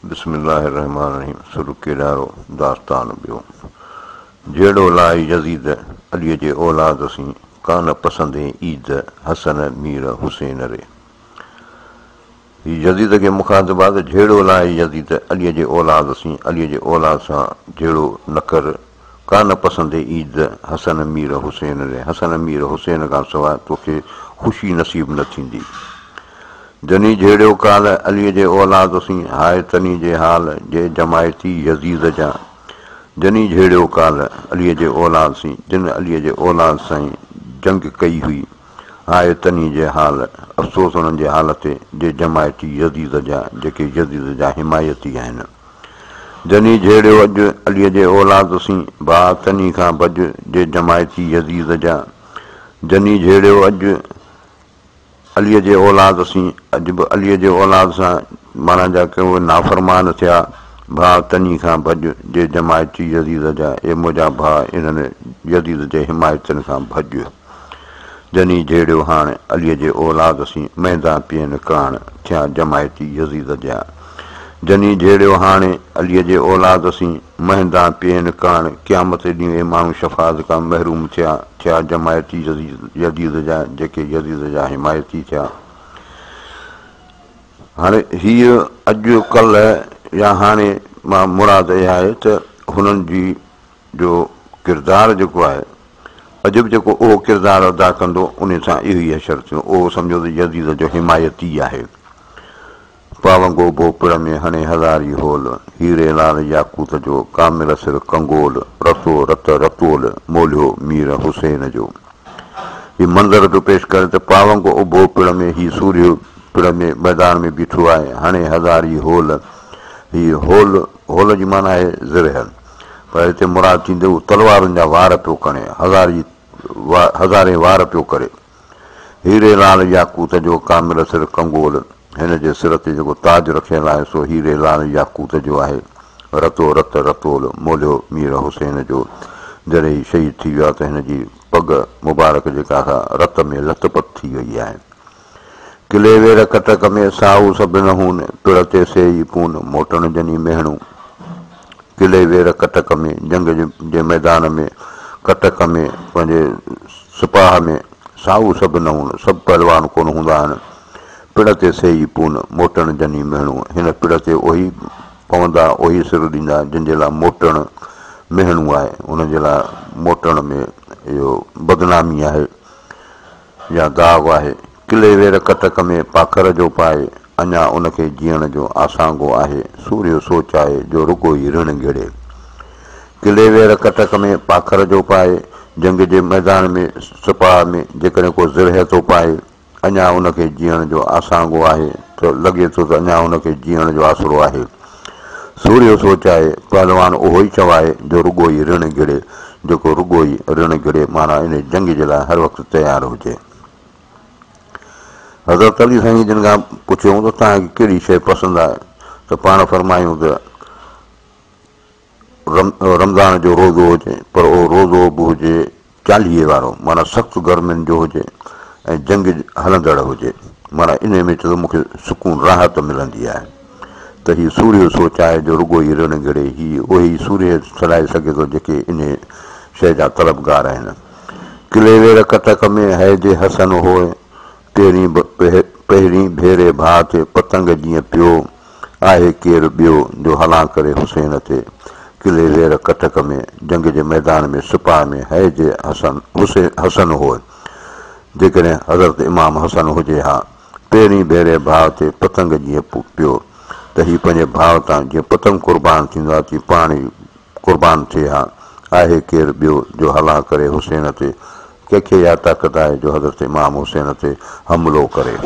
بسم الله الرحمٰن الرحيم سر ڪيڏارو داستان ٻيو جهيڙو لاهي يزيد عليء جي اولاد سين ڪانه پسندين عيد حسن مير حسين ري هي يزيد کي مخاطبات جهيڙو لاهي يزيد عليء جي اولاد سين عليء جي اولاد سان جهيڙو نه ڪر ڪا نه پسندي عيد حسن مير حسين ري حسن مير حسين کان سواء توکي خوشي نصيب نه ٿيندي جني جهيڙيو ڪال علي جي اولاد سين هاء تني جي حال جي جماعتي يزيد جا جني جهيڙيو ڪال علي جي اولاد سين جن علي جي اولاد سائين جنگ ڪئي هئي هاء تني جي حال افسوس انهن جي حال تي جي جماعتي يزيد جا جيڪي يزيد جا حمايتي آهن. جني جهيڙيو اڄ عليء جي اولاد سين، ڀاء تني کان ڀڄ جي جماعتي يزيد جا. جني جهيڙيو اڄ عليء جي اولاد سين، اڄ به عليء جي اولاد سان معنيٰ جا ڪي اهي نافرمان ٿيا، ڀاء تني کان ڀڄ جي جماعتي يزيد جا، اي منهنجا ڀاء انهن يزيد جي حمايتين کان ڀڄ. جني جهيڙيو هاڻ عليء جي اولاد سين مهندان پيئن ڪاڻ ٿيا جماعتي يزيد جيا جني جهيڙيو هاڻ عليء جي اولاد سين مهندان پيئن ڪاڻ قيامت جي ڏينهن اهي ماڻهو شفاعت کان محروم ٿيا ٿيا جماعتي يزيد جيا جيڪي يزيد جا حمايتي ٿيا هاڻ هيء اڄ ڪلهه يا هاڻي مان مراد اهي آهي ته هنن جي جو ڪردار جيڪو آهي، عجب جيڪو اهو ڪردار ادا ڪندو، انهي سان اهي ئي حشر ٿيون، اهو سمجهو ته يزيد جو حمايتي آهي. پاونگو ڀوپڙ ۾ هڻي هزاري هول، هيري لال ياقوت جو، ڪامل سر ڪنگول، رسو رت رتول، مولهيو مير حسين جو. هي منظر پيو پيش ڪري ته پاونگو ڀوپڙ ۾ هي سورهيو پڙ ۾ ميدان ۾ بيٺو آهي، هڻي هزاري هول، هي هول، هول جي معنيٰ آهي زرهه. پر هتي مراد ٿيندي هو تلوارن جا وار پيو کڻي، هزار جي هزارين وار پيو ڪري. هيري لال ياقوت جو ڪامل سر ڪنگول، هن جي سر تي جيڪو تاج رکيل آهي، سو هيري لال ياقوت جو آهي. رتو رت رتول مولهيو مير حسين جو. جڏهن هي شهيد ٿي ويو آهي ته هن جي پڳ مبارڪ جيڪا سا رت ۾ لٿ پٿ ٿي وئي آهي. ڪلي وير ڪٽڪ ۾ ساهو سڀن هون، پڙ تي سي ئي پون، موٽڻ جني مهڻون. ڪلي وير ڪٽڪ ۾ جنگ جي ميدان ۾ ڪٽڪ ۾ پنهنجي سپاهه ۾ ساهو سڀ نه هون، سڀ پهلوان ڪونه هوندا آهن، پڙ تي سي ئي پون، موٽڻ جني مهڻون، هن پڙ تي اهي ئي پوندا، اهي ئي سر ڏيندا، جن جي لاء موٽڻ مهڻون آهي، انهن جي لاء موٽڻ ۾ اهو بدنامي آهي. يا داغ آهي، ڪلي وير ڪٽڪ ۾ پاکر جو پائي، اڃا ان کي جيئڻ جو آسانگو آهي، سورهيو سوچ آهي جو رڳو ئي رڻ گهڙي. ڪلي وير ڪٽڪ ۾ پاکر جو پائي، جنگ جي ميدان ۾ سپاهه ۾ جيڪڏهن ڪو زرهه ٿو پائي، اڃا ان کي جيئڻ جو آسانگو آهي ته لڳي ٿو ته اڃا ان کي جيئڻ جو آسرو آهي. سورهيو سوچ آهي، پهلوان اهو ئي چو آهي جو رڳو ئي رڻ گهڙي، جيڪو رڳو ئي رڻ گهڙي معنيٰ انهي جنگ جي لاء هر وقت تيار هجي. حضرت علي سائين جن کان پڇيو ته توهان کي ڪهڙي شيء پسند آهي ته پاڻ فرمايون ته. رمضان جو روزو هجي پر اهو روزو به هجي چاليهي وارو معنيٰ سخت گرمين جو هجي ۽ جنگ هلندڙ هجي معنيٰ انهي ۾ ته مون کي سڪون راحت ملندي آهي ته هي سورهيه سوچ آهي جو رڳو ئي رڙ گهڙي هي اهي ئي سورهيه سڏائي سگهي ٿو جيڪي انهي شيء جا طلبگار آهن ڪليوير ڪٽڪ ۾ هيجي حسن هوء پهرين ڀيري ڀاء تي پتنگ جيئن پيو آهي ڪير ٻيو جو هلان ڪري حسين تي قلعي زير ڪٽڪ ۾ جنگ جي ميدان ۾ سپاهه ۾ هيء جي حسن هوء جيڪڏهن حضرت امام حسن هجي ها پهرين ڀيري ڀاء تي پتنگ جيئن پيو ته هي پنهنجي ڀاء تان جيئن پتنگ قربان ٿيندو آهي تيئن پاڻ ئي قربان ٿئي ها آهي ڪير ٻيو جو هلان ڪري حسين تي ڪنهن کي اها طاقت آهي جو حضرت امام حسين تي حملو ڪري.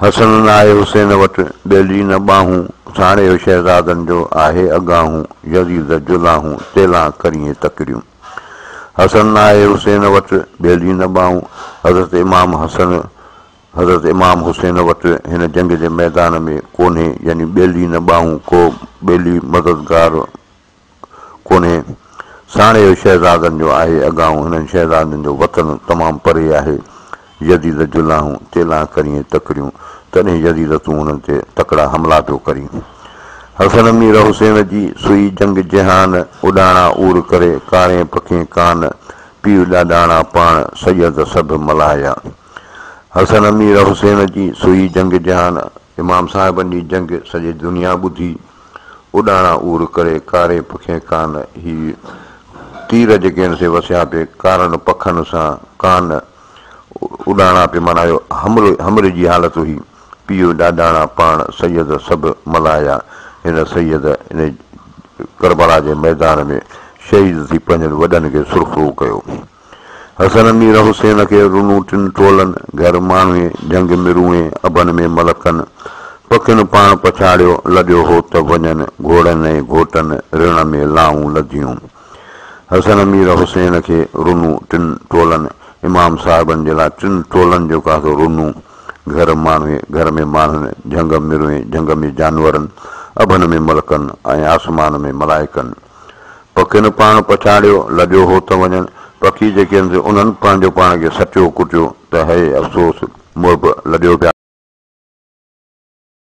حسن نه آهي حسين وٽ، ٻيلي نه ٻانهون، ساڻيهه شهزادن جو آهي اڳاهون، يزيد جلاهون، تيلان ڪريين تڪڙيون. حسن نه آهي حسين وٽ، ٻيلي نه ٻانهون، حضرت امام حسن حضرت امام حسين وٽ هن جنگ جي ميدان ۾ ڪونهي يعني ٻيلي نه ٻانهون ڪو ٻيلي مددگار، ڪونهي، ساڻي اهو شهزادن جو آهي، اڳائون هنن شهزادن جو وطن تمام پري آهي، يزيد جلاهون تيلان ڪريئين تڪڙيون، تڏهن يزيد تون هنن تي تڪڙا حملا پيو ڪرين. حسن مير حسين جي سوئي جنگ جهان، اڏاڻا عور ڪري ڪارين پکين ڪان، پيء ڏاڏاڻا پاڻ سيد سڀ ملايا. حسن مير حسين جي سوئي جنگ جهان، امام صاحبن جي جنگ سڄي دنيا ٻڌي. اڏاڻا عور ڪري ڪاري پکين ڪان هي تير جيڪين سي وسيان پي ڪارن پکن سان ڪان اڏاڻا پي معنيٰ اهو همر همر جي حالت هئي پيو ڏاڏاڻا پاڻ سيد سڀ ملهايا هن سيد ان ڪربلا جي ميدان ۾ شهيد ٿي پنهنجن وڏن کي سرخرو ڪيو. حسن مير حسين کي رنو ٽن ٽولن، گهر ماڻهوئي، جهنگ مروئين، اڀن ۾ ملڪن، پکين پاڻ پڇاڙيو، لڏيو هو ته وڃن، گهوڙن ۽ گهوٽن، رڻ ۾ لائون لڌيون. حسن مير حسين کي رنو ٽن ٽولن، امام صاحبن جي لاء ٽن ٽولن جو ڪاسو رنو، گهر ماڻهوئي، گهر ۾ ماڻهن، جهنگ مروئين، جهنگ ۾ جانورن، اڀن ۾ ملڪن ۽ آسمان ۾ ملائڪن، پکين پاڻ پڇاڙيو، لڄو هو ته وڃن، پکي جيڪي هن سي انهن پنهنجو پاڻ کي سٽيو ڪٽيو ته هيء افسوس، محب، لڄو پيا.